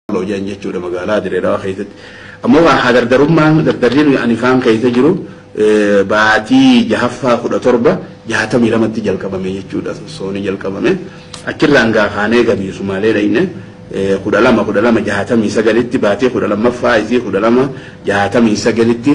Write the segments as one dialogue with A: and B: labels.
A: Walloo jedhan jechuudha magaalaa Direedawaa keessatti. Ammoo kan haa dardarummaan dardarri nuyi ani faan keessa jiru baatii jahaffaa kudha torba jahatamii lamatti jalqabame jechuudha sosooni jalqabame. Achirraan gaa kaanee gabii Sumaalee dhayne kudha lama kudha lama jahatamii sagalitti baatii kudha lammaffaa isii kudha lama jahatamii sagalitti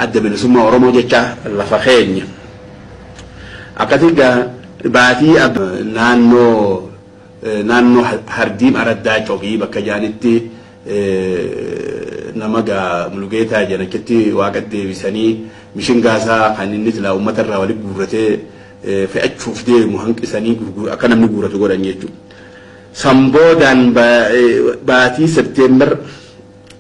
A: adda bilisummaa Oromoo jecha lafa keenya. Akkasii gaa baatii naannoo Naannoo Hardiim Araddaa Cobii bakka jedhanitti nama egaa Mulugeetaa jedhan achitti Waaqa deebisanii mishingaa isaa kan inni silaa uummata irraa walitti guurratee fe'achuuf deemu hanqisanii akka namni guurratu godhan jechuudha. San boodaan baatii September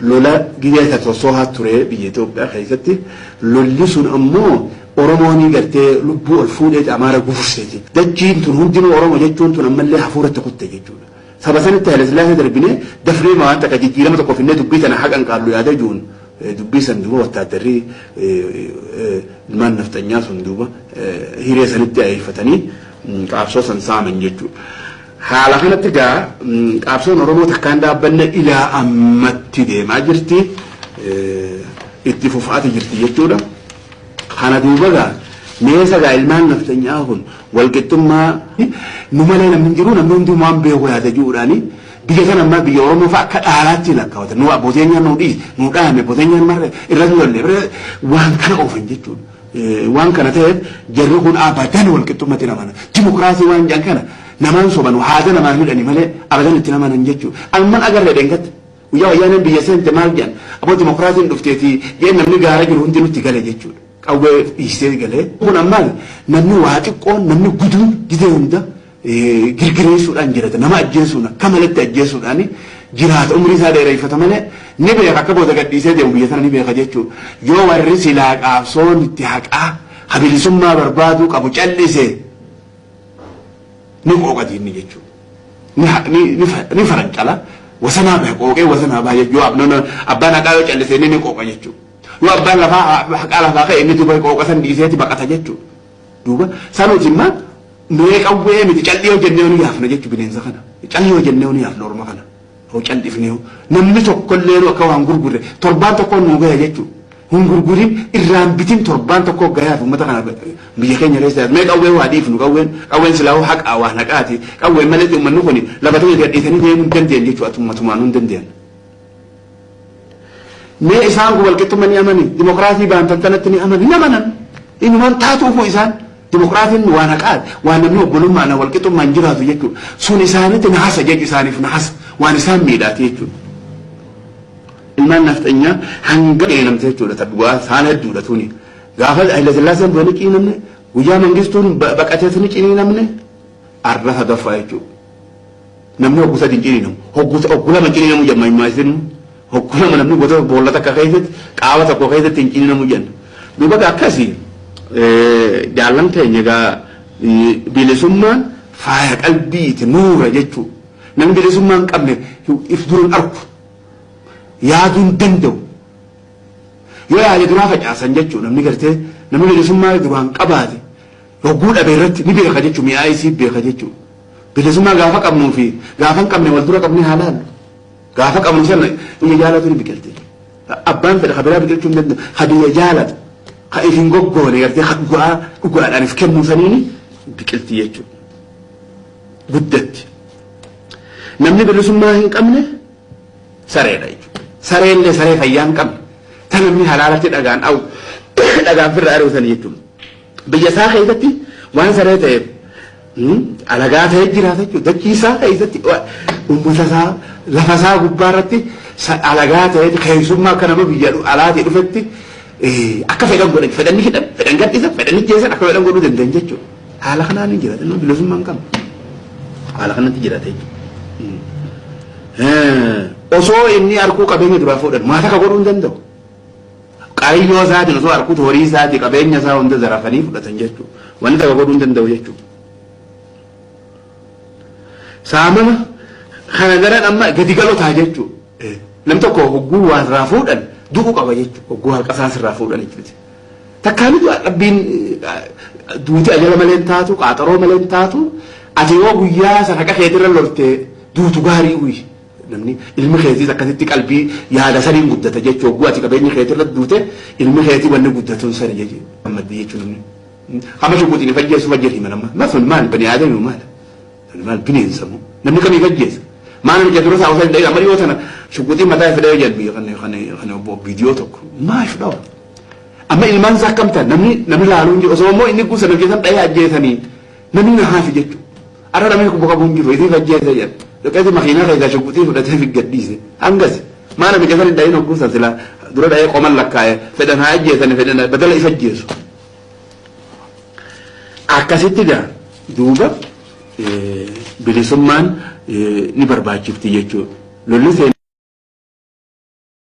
A: Lola gizee Sassoosoohaa ture biyya Itoophiyaa keessatti lolli sun ammoo Oromooni gartee lubbuu ol fuudheeti Amaara gufufseeti. Dachiin tun hundinuu Oromo jechuun tun ammallee hafuuratti kutte jechuudha. Saba sanitti Hayilasillaasee darbinee dafneema waan takka jijjiirama tokko finnee dubbii tana haa qanqaallu yaada jiruun dubbii san duuba wattaaddarri ilmaan nafxanyaa sun duuba hiree sanitti ayeeffatanii qaabsoo san saaman jechuudha. Haala kanatti egaa qaabsoon Oromoo takkaa hin dhaabbanne ilaa ammatti deemaa jirti. Itti fufaati jirti jechuudha. Kana duuba egaa meesa egaa ilmaan nafxanyaa kun walqixxummaa nu malee namni hin jiru namni hundi waan beeku yaada jiruudhaani biyya kana ammaa biyya Oromoo fa'a akka dhaalaatti lakkaawata. Nu abbootiin nu dhiise nu dhaame abbootiin marre irra nu lalle waan kana oofan jechuudha. Waan kana ta'eef jarri kun abadan walqixxummatti hin amanan. Dimokiraasii waan jedhan kana namaan sobanu haada namaan hidhani malee abadan itti hin amanan jechuu. Amman agarre dheengadda. Guyyaa wayyaaneen biyya seente maal jedhan aboo dimokiraasiin dhufteetii jedhee namni gaara jiru hundi nutti gale jechuudha. Qawwee dhiistee galee. Kun ammaal namni waa xiqqoon namni guduun gidee hunda girgireessuudhaan jirata. Nama ajjeesuun akka maletti ajjeesuudhaan jiraata. Umrii isaa dheereffata malee ni beeka akka booda gadhiisee deemu biyya tana ni beeka jechuu. Yoo warri silaa qaabsoon itti haqaa ka bilisummaa barbaaduu qabu cal'ise ni qooqa diinni jechuu. Ni, ha- ni, ni, fa- ni farancala. Wasanaa bahe qooqee wasanaa baha jechuu. Yoo abnoon abbaan haqaa yoo cal'ise inni ni qooqa jechuu. Yoo abbaan lafaa ha- haqaa lafaa ka'e inni duuba qooqa san dhiiseeti baqata jechuu. Duuba sa nuti imma nuye qawwee miti cal'ii hojennee nu yaafna jechu bineensa kana cal'ii hojennee nu yaafna orma kana hoo cal'ifnee hoo namni tokkollee nu akka waan gurgurre torbaan tokkoo nu gaya jechu hin gurgurin irraan bitin torbaan tokkoo gayaaf ummata kana biyya keenya keessa yaadu mee qawwee waa dhiifnu qawween qawween silaa hoo haqaa waan haqaati qawween maletti ummanni kuni lafa ta'e gadhiisanii deemuu hin dandeenye jechu atummatumaan nu hin dandeenye. Mee isaan kun walqixxumma ni amani? Dimokiraasii baantattanatti ni amani? Hin amanan. Inumaan taatuufuu isaan dimokiraasiin waan haqaati. Waan namni obbolummaan walqixxummaan jiraatu jechuudha. Sun isaanitti nahasa jechu isaaniif nahasa. Waan isaan miidhaati jechuudha. Ilmaan nafxanyaa hanga qeelamte jechuudha. Ta dhugaa saan hedduudha tuni. Gaafa Hayilasillaaseen du'anii ciinamne guyyaa mangistuun baqatees ni ciniinamne arra hagaffaa jechuudha. namni hoggu sadi hin ciniinamu. Hoggu hoggu lama hin ciniinamu jedhan maayimmaayisinu. Hoggu lama namni bota boolla takka keessatti qaama tokko keessatti hin ciniinamu jedhan. Duuba gaa akkasi jaallan keenya gaa bilisummaan faaya qalbiiti nuura jechuu. Namni bilisummaa hin qabne if duran arku. Yaaduu hin danda'u. Yoo yaade duraa facaasan jechuu namni gartee namni bilisummaa duraan qabaate Hogguu dhabe irratti ni beeka jechuun mi'aa isii beeka jechuudha. Bilisummaa gaafa qabnuu fi gaafa hin qabne wal dura qabnee haa laallu. Gaafa qabnu sana biyya jaalatu ni biqilti. Abbaan fedha ka biraa biqilchuu hin danda'u. Ka biyya jaalatu ka if hin goggoone gartee ka dhugaa dhugaadhaan if kennuu saniini biqilti jechuudha. Guddatti. Namni bilisummaa hin qabne sareedha jechuudha. Saree illee saree fayyaa hin qabne. Ta namni halaalatti dhagaan dhagaan firra ari'u sanii jechuudha. Biyya isaa keessatti waan saree ta'eef alagaa ta'ee jiraata jechuudha. Dachii isaa keessatti uummata isaa lafa isaa gubbaa irratti alagaa ta'ee keessummaa akka nama biyya alaatii dhufetti akka fedhan godhan fedhan ni hidhan fedhan gadhiisan fedhan ijjeesan akka fedhan godhuu danda'an jechuudha. Haala kanaan hin jiraata inni bilisummaa hin qabu. Haala kanatti jiraata jechuudha. Osoo inni arguu qabeenya duraa fuudhan maata akka godhuu hin danda'u. Qaayyoo isaatiin osoo arkuuti horii isaatii qabeenya isaa hunda zarafanii fudhatan jechuu. Wanni takka godhuu hin danda'u jechuu. Saamama kana daran amma gadi galoo ta'a jechuu. Nam tokko hogguu waan irraa fuudhan du'u qaba jechuu. Hogguu harka isaas irraa fuudhan jechuuti. Takkaa mitu rabbiin duuti ajala malee hin taatu qaaxaroo malee hin taatu ati yoo guyyaa san haqa keetirra loltee duutu gaarii uyi Namni ilmi keetiis akkasitti qalbii yaada saniin guddata jechu hogguu ati qabeenyi keeti irratti duute ilmi keeti wanni guddatun sani jechu gammaddi jechu namni kama shuquxini fajjeessu fajjeessu hima nama ma sun maal bani aadami maal sun maal bineensa moo namni kamii fajjeessa maal namni jedhu rasaa osoo hin dhayin amma dhiyoo tana shuquxii mataa fidee jedhu kan kan kan obbo viidiyoo tokko maa shudhawa amma ilmaan isaa akkam ta'an namni namni laaluun jiru osoo immoo inni guusa namni keessan dhahee ajjeesanii namni na haafi jechuudha. Arra namni lubbu qabu hin jiru isii fajjeesse jedha. Dhaqeeti makiinaa keessaa shugguxii fudhatee fi gad dhiise. Hangasi. Maa namicha san hin dhayin hogguu san silaa dura dhayee qoman lakkaa'e fedhan haa ajjeesani fedhan badala isa ajjeesu. Akkasitti gaa duuba bilisummaan ni barbaachifti jechuudha. Lolli